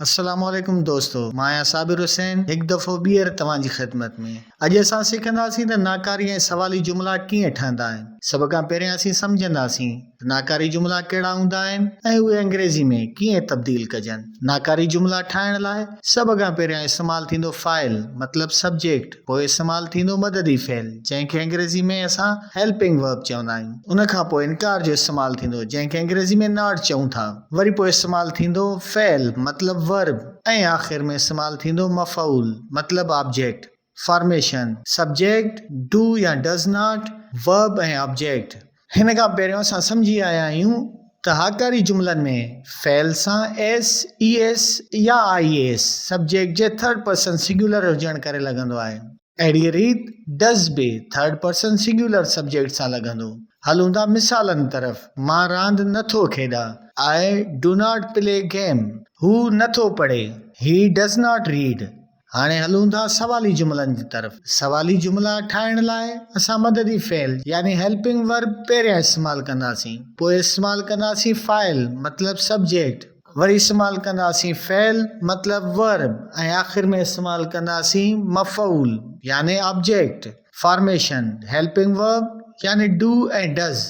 السلام عليڪم دوستو مان آهيان صابر حسين هڪ دفعو ٻيهر توهان جي خدمت ۾ اڄ اسان سکنداسين ته ناڪاري ۽ سوالي جملا ڪيئن ٺهندا آهن سڀ کان پهريان اسين سمجهنداسين ته ناڪاري جملا ڪهڙا هوندا آهن ۽ اهي انگريزي ۾ ڪيئن تبديل ڪجن ناڪاري جملا ٺاهڻ لاء سڀ کان پهريان استعمال ٿيندو فاعل مطلب سبجيڪٽ پوء استعمال ٿيندو مددي فعل جنهن کي انگريزي ۾ اسان Helping Verb چوندا آهيون ان کان پوء انڪار جو استعمال ٿيندو جنهن کي انگريزي ۾ Not چئون ٿا وري پوء استعمال ٿيندو فعل مطلب Verb ۽ آخر ۾ استعمال ٿيندو مفعول مطلب Object Formation Subject Do يا Does Not Verb ۽ Object هن کان پهريون اسان سمجهي آيا آهيون ته هاڪاري جملن ۾ فعل سان ايس، اي ايس يا آء ايس سبجيڪٽ جي ٿرڊ پرسن سنگيولر هجڻ ڪري لڳندو آهي. اهڙيء ريت ڊز به ٿرڊ پرسن سنگيولر سبجيڪٽ سان لڳندو. هلون ٿا مثالن طرف، مان راند نه ٿو کيڏان، I do not play game. هو نه ٿو پڙهي، He does not read. هاڻي هلون ٿا سوالي جملن جي طرف. سوالي جملا ٺاهڻ لاء اسان مددي فعل يعني Helping Verb پهريان استعمال ڪنداسين. پوء استعمال ڪنداسين فاعل مطلب سبجيڪٽ. وري استعمال ڪنداسين فعل مطلب Verb ۽ آخر ۾ استعمال ڪنداسين مفعول يعني آبجيڪٽ. فارميشن، Helping Verb يعني Do ۽ Does،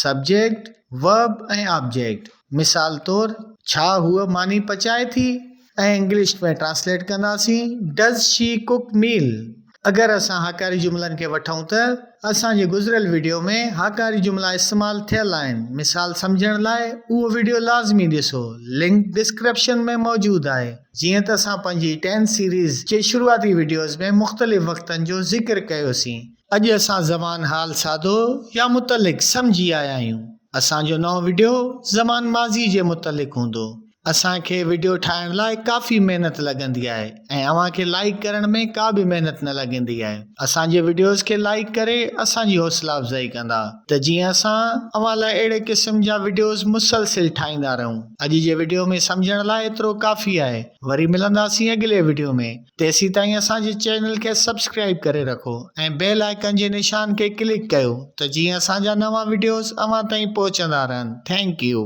subject, Verb ۽ object. مثال طور، ڇا هوء ماني پچائي ٿي؟ ۽ انگلش ۾ ٽرانسليٽ ڪنداسين Does she cook meal؟ اگر اسان هاڪاري جملن کي وٺون ته اسان جي گذريل وڊيو ۾ هاڪاري جملا استعمال ٿيل آهن مثال سمجهڻ لاء اهو وڊيو لازمي ڏسو لنڪ ڊسڪرپشن ۾ موجود آهي جيئن ته اسان پنهنجي ٽين سيريز جي شروعاتي وڊيوز ۾ مختلف وقتن جو ذڪر ڪيوسين. اڄ اسان زمان حال ساڌو يا متعلق سمجهي آيا آهيون اسان جو نئون وڊيو زمان ماضي جي متعلق هوندو اسان کي وڊيو ٺاهڻ لاء ڪافي محنت لڳندي آهي ۽ اوهان کي لائيڪ ڪرڻ ۾ ڪا به محنت نه لڳندي آهي اسان جي وڊيوز کي لائيڪ ڪري اسان جي حوصلا افزائي ڪندا ته جيئن اسان اوهان لاء اهڙي قسم جا وڊيوز مسلسل ٺاهيندا رهون اڄ جي وڊيو ۾ سمجهڻ لاء ايترو ڪافي آهي وري ملنداسين اڳلي وڊيو ۾ تيسيتائين اسان جي چينل کي سبسڪرائيب ڪري رکو ۽ بيل آئيڪن جي نشان کي ڪلڪ ڪيو ته جيئن اسان جا نوان وڊيوز اوهان تائين پهچندا رهن ٿينڪ يو.